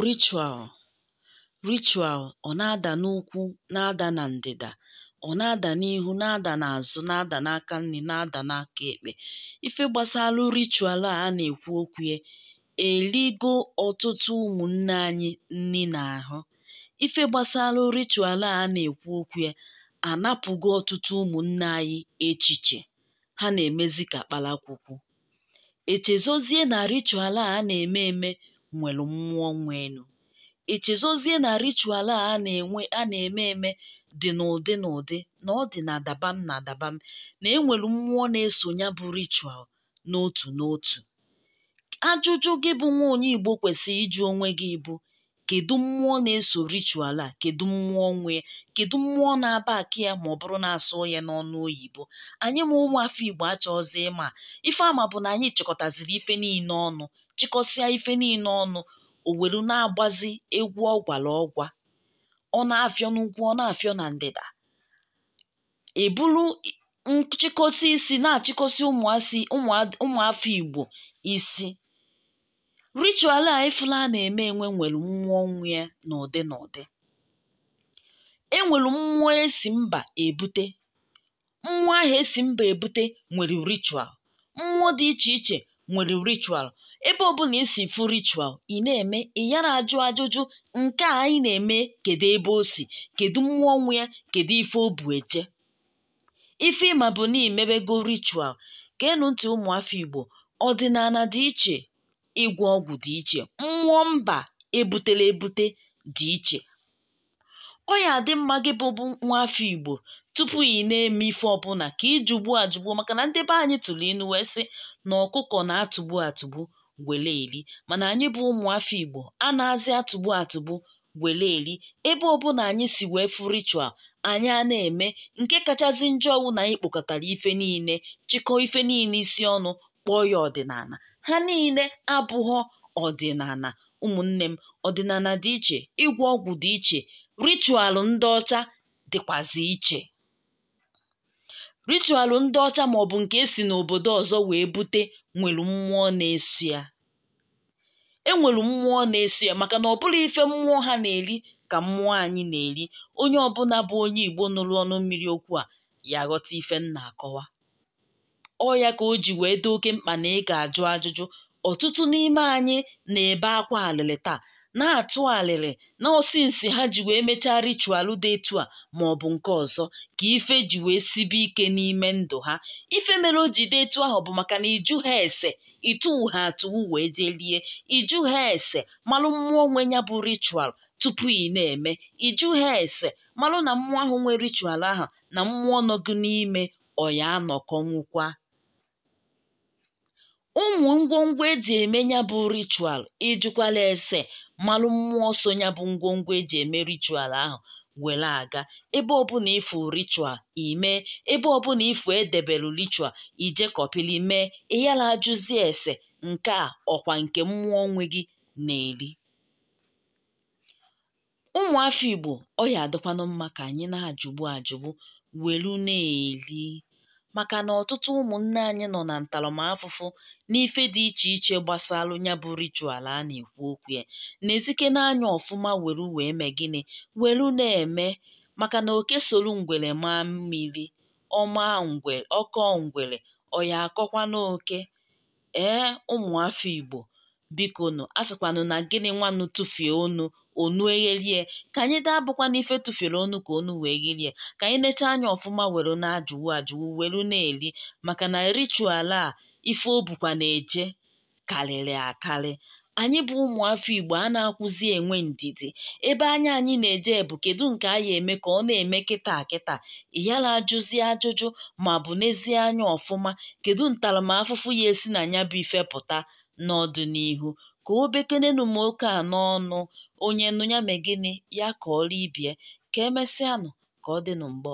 Ritual Ritual ọ na-ada n'ugwu na-ada na ndịda ọ na-ada n'ihu na-ada n'azụ na-ada n'aka nni na-ada n'aka ekpe ife gbasara ritual a a na-ekwu okwu ya eligo ọtụtụ ụmụnne anyị nni n'ahụ ife gbasara ritual a a na-ekwu okwu ya anapụgo ọtụtụ ụmụnne anyị echiche ha na-emezi ka kpalakwukwu echezọzie na ritual a na-eme eme nwere mmụọ nwenụ echezọzie na ritual a na-eme eme dị n'ụdị n'ụdị na ọ dị na dabam na dabam na enwere mmụọ na-eso ya bụ ritual n'otu n'otu ajụjụ gị bụ nwa onye igbo kwesịrị ịjụ onwe gị bụ kedu mmụọ na-eso ritual a kedu mmụọ nwe ya kedu mmụọ na-aback ya ma ọ bụrụ na-asụ ya n'ọnụ oyibo anyị ma ụmụ afọ igbo achọghịzi ịma ife a ma bụ na anyị chịkọtaziri ife niile ọnụ chịkọsịa ife niile ọnụ o were na-agbazi egwu ọgwara ọgwa ọ na-afịọ n'ugwu ọ na-afịọ na ndịda eburu nchịkọsị isi na-achịkọsị ụmụasị ụmụa- ụmụafọ igbo isi ritual a ị fụlụ a na-eme enwe nwere mmụọ nwe ya n'ụdị n'ụdị enwere mmụọ esi mba ebute mmụọ ahụ esi mba ebute nwere ritual mmụọ dị iche iche nwere ritual ebe ọbụla i si fụ ritual ị na-eme ị yara ajụ ajụjụ nke a anyị na-eme kedu ebe o si kedu mmụọ nwe ya kedu ife o bu eje ife ị ma bụ na i mebego ritual geenụ ntị ụmụafọ igbo ọdịnala dị iche ịgwọ ọgwụ dị iche mmụọ mba ebutela ebute dị iche ọ ya adị mma gị bụ bụ nwa afọ igbo tupu ị na-eme ife ọbụla ka ị jụgbu ajụgbu maka na ndị be anyị tụrụ inu wee sị na ọkụkọ na-atụgbu atụgbu wele eri mana anyị bụ ụmụ afọ igbo anazị atụgbu atụgbu wele eri ebe ọbụla anyị si wee fụ ritual anyị a na-eme nke kachasị njọ wụ na anyị kpokọtara ife niile chịkọọ ife niile isi ọnụ kpọọ ya ọdịnala ha niile abụghọ ọdịnala ụmụnne m ọdịnala dị iche ịgwọ ọgwụ dị iche ritual ndị ọcha dịkwazị iche ritualụ ndị ọcha maọbụ nke esi n'obodo ọzọ wee bute nwere mmụọ na-eso ya enwere mmụọ na-eso ya maka na ọ bụrọ ife mmụọ ha na-eri ka mmụọ anyị na-eri onye ọbụla bụ onye igbo nụrụ ọnụ mmiri okwu a ya aghọta ife m na-akọwa ọ ya ka o ji wee dị oke mkpa na ị ga-ajụ ajụjụ ọtụtụ n'ime anyị na-ebe akwa alịlị taa na-atụ alịlị na ọ since ha ji wee mechaa ritual dị etu a ma ọ bụ nke ọzọ ka ife ji wee sibe ike n'ime ndụ ha ife mere o ji dị etu ahụ bụ maka na ị jụha ese ị tụwuha atụwu wee jee lie ị jụha ese malụ mmụọ nwe ya bụ ritual tupu ị na-eme ị jụha ese malụ na mmụọ ahụ nwe ritual ahụ na mmụọ nọ gụ n'ime ọ ya-anọkọnwukwa ụmụ ngwongwo e ji eme ya bụ ritual ị jụkwala ese malụ mmụọ so ya bụ ngwongwo e ji eme ritual ahụ were aga ebe ọbụla ị fụ ritual i mee ebe ọbụla ị fụ e debelu ritual i jee kọpịlị mee ị yala ajụzi ese nke a ọ kwa nke mmụọ nwe gị na-eri ụmụafọ Igbo ọ ya-adịkwanụ mma ka anyị na-ajụgbu ajụgbu welu na-eli maka na ọtụtụ ụmụnne anyị nọ na ntaramafụfụ n'ife dị iche iche gbasalụ ya bụ ritual a na-ekwu okwu ya nezikene anya ọfụma welu wee mee gịnị welu na-eme maka na oke solu ngwere maa mmiri ọ ma ngwere ọ kọọ ngwere ọ ya-akọkwanụ oke ee ụmụafọ Igbo bikonu a sịkwanụ na gịnị nwanụ tụfie onu onu egherie ka anyị da abụkwanụ ife tụfiere onu ka onu wee gherie ka anyị nechaa anya ọfụma were na-ajụwu ajụwu were na-eri maka na ritual a ife o bukwa na-eje karịrị akarị anyị bụ ụmụafọ Igbo anakwụzi enwe ndidi ebe anya anyị na-eje bụ kedu nke a ya-eme ka ọ na-eme kịta kịta ị yara ajụzi ajụjụ ma ọ bụ nezie anya ọfụma kedu ntaramafụfụ ya-esi na ya bụ ife pụta n'ọdịnihu ka o bekenenụ m oke a n'ọnụ onye nụ ya mee gịnị ya kọọrụ ibie ka emesịanụ ka ọ dịnụ mgbe ọzọ